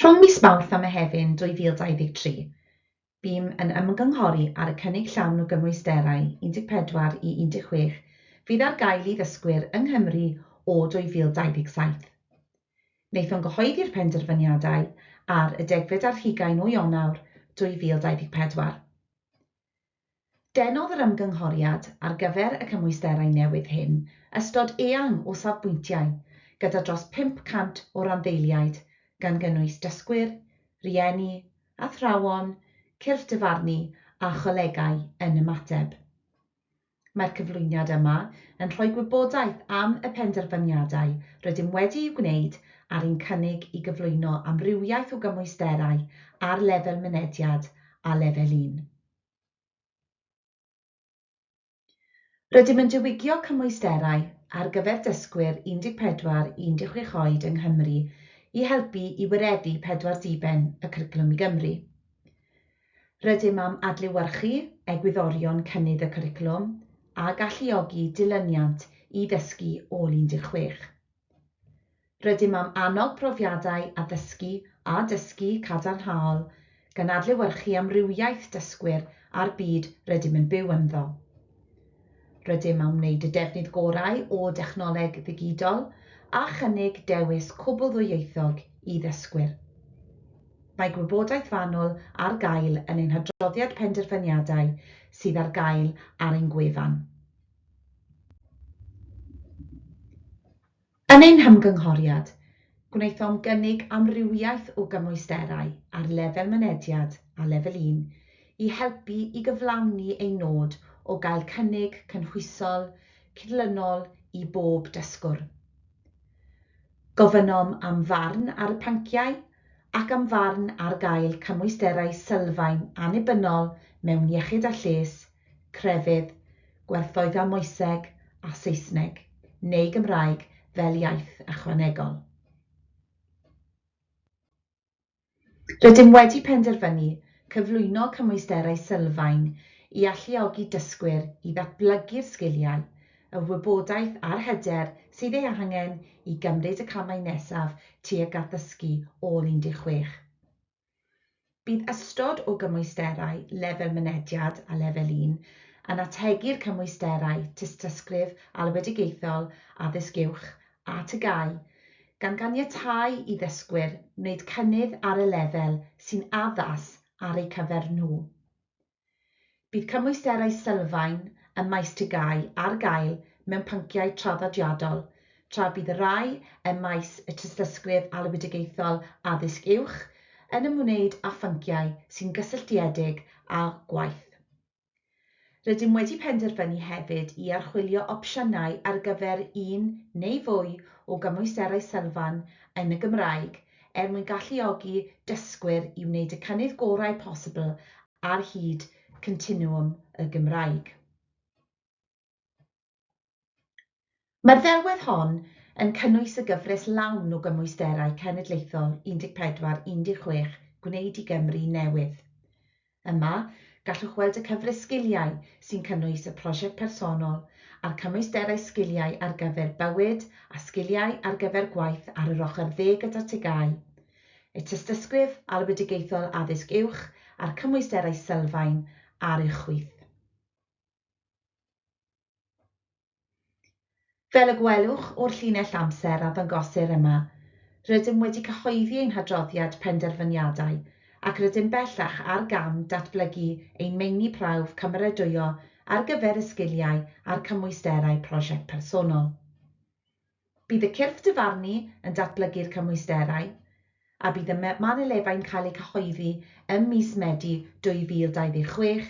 Rhwng mis Mawrth a Mehefin 2023, bûm yn ymgynghori ar y cynnig llawn o gymwysterau 14 i 16 fydd ar gael i ddysgwyr yng Nghymru o 2027. Wnaethom gyhoeddi'r penderfyniadau ar y degfed ar hugain o Ionawr 2024. Denodd yr ymgynghoriad ar gyfer y cymwysterau newydd hyn ystod eang o safbwyntiau, gyda dros 500 o randdeiliaid, gan gynnwys dysgwyr, rhieni, athrawon, cyrff dyfarnu a cholegau yn ymateb. Mae'r cyflwyniad yma yn rhoi gwybodaeth am y penderfyniadau rydym wedi'u gwneud ar ein cynnig i gyflwyno amrywiaeth o gymwysterau ar lefel mynediad a lefel un. Rydym yn diwygio cymwysterau ar gyfer dysgwyr 14 i 16 oed yng Nghymru i helpu i wireddu pedwar diben y Cwricwlwm i Gymru. Rydym am adlewyrchu egwyddorion cynnydd y cwricwlwm a galluogi dilyniant i ddysgu ôl 16. Rydym am annog profiadau addysgu a dysgu cadarnhaol, gan adlewyrchu amrywiaeth dysgwyr a'r byd rydym yn byw ynddo. Rydym am wneud y defnydd gorau o dechnoleg ddigidol a chynnig dewis cwbl-ddwyieithog i ddysgwyr. Mae gwybodaeth fanwl ar gael yn ein hadroddiad penderfyniadau sydd ar gael ar ein gwefan. Yn ein hymgynghoriad, gwnaethom gynnig amrywiaeth o gymwysterau ar lefel mynediad a lefel un i helpu i gyflawni ein nod o gael cynnig cynhwysol, cydlynol i bob dysgwr. Gofynnom am farn ar y pynciau ac am farn ar gael cymwysterau sylfaen annibynnol mewn iechyd a lles, crefydd, gwerthoedda moeseg a Saesneg neu Gymraeg fel iaith ychwanegol. Rydym wedi penderfynu cyflwyno cymwysterau sylfaen i alluogi dysgwyr i ddatblygu'r sgiliau, y wybodaeth a'r hyder sydd ei angen i gymryd y camau nesaf tuag at ddysgu ôl 16. Bydd ystod o gymwysterau Lefel Mynediad a Lefel Un yn ategu'r cymwysterau Tystysgrif Alwedigaethol Addysg Uwch a TGAU, gan ganiatáu i ddysgwyr wneud cynnydd ar y lefel sy'n addas ar eu cyfer nhw. Bydd cymwysterau sylfaen ym maes TGAU ar gael mewn pynciau traddodiadol, tra bydd y rhai ym maes y Tystysgrif Alwedigaethol Addysg Uwch yn ymwneud â phynciau sy'n gysylltiedig â gwaith. Rydym wedi penderfynu hefyd i archwilio opsiynau ar gyfer un neu fwy o gymwysterau sylfaen yn y Gymraeg er mwyn galluogi dysgwyr i wneud y cynnydd gorau posibl ar hyd continwwm y Gymraeg. Mae'r ddelwedd hon yn cynnwys y gyfres lawn o gymwysterau cenedlaethol 14, 16 Gwneud i Gymru newydd. Yma, gallwch weld y cyfres sgiliau sy'n cynnwys y prosiect personol a'r cymwysterau sgiliau ar gyfer bywyd a sgiliau ar gyfer gwaith ar yr ochr dde gyda'r TGAU, y Tystysgrif Alwedigaethol Addysg Uwch a'r cymwysterau sylfaen ar uwchwyth. Fel y gwelwch o'r llinell amser a ddangosir yma, rydym wedi cyhoeddi ein hadroddiad penderfyniadau ac rydym bellach ar gam datblygu ein meini prawf cymeradwyo ar gyfer y sgiliau a'r cymwysterau prosiect personol. Bydd y cyrff dyfarnu yn datblygu'r cymwysterau, a bydd y manylebau'n cael eu cyhoeddi ym mis Medi 2026,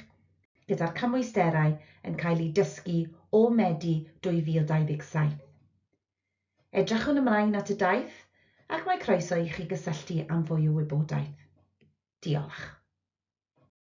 gyda'r cymwysterau yn cael eu dysgu o Medi 2027. Edrychwn ymlaen at y daith ac mae croeso i chi gysylltu am fwy o wybodaeth. Diolch.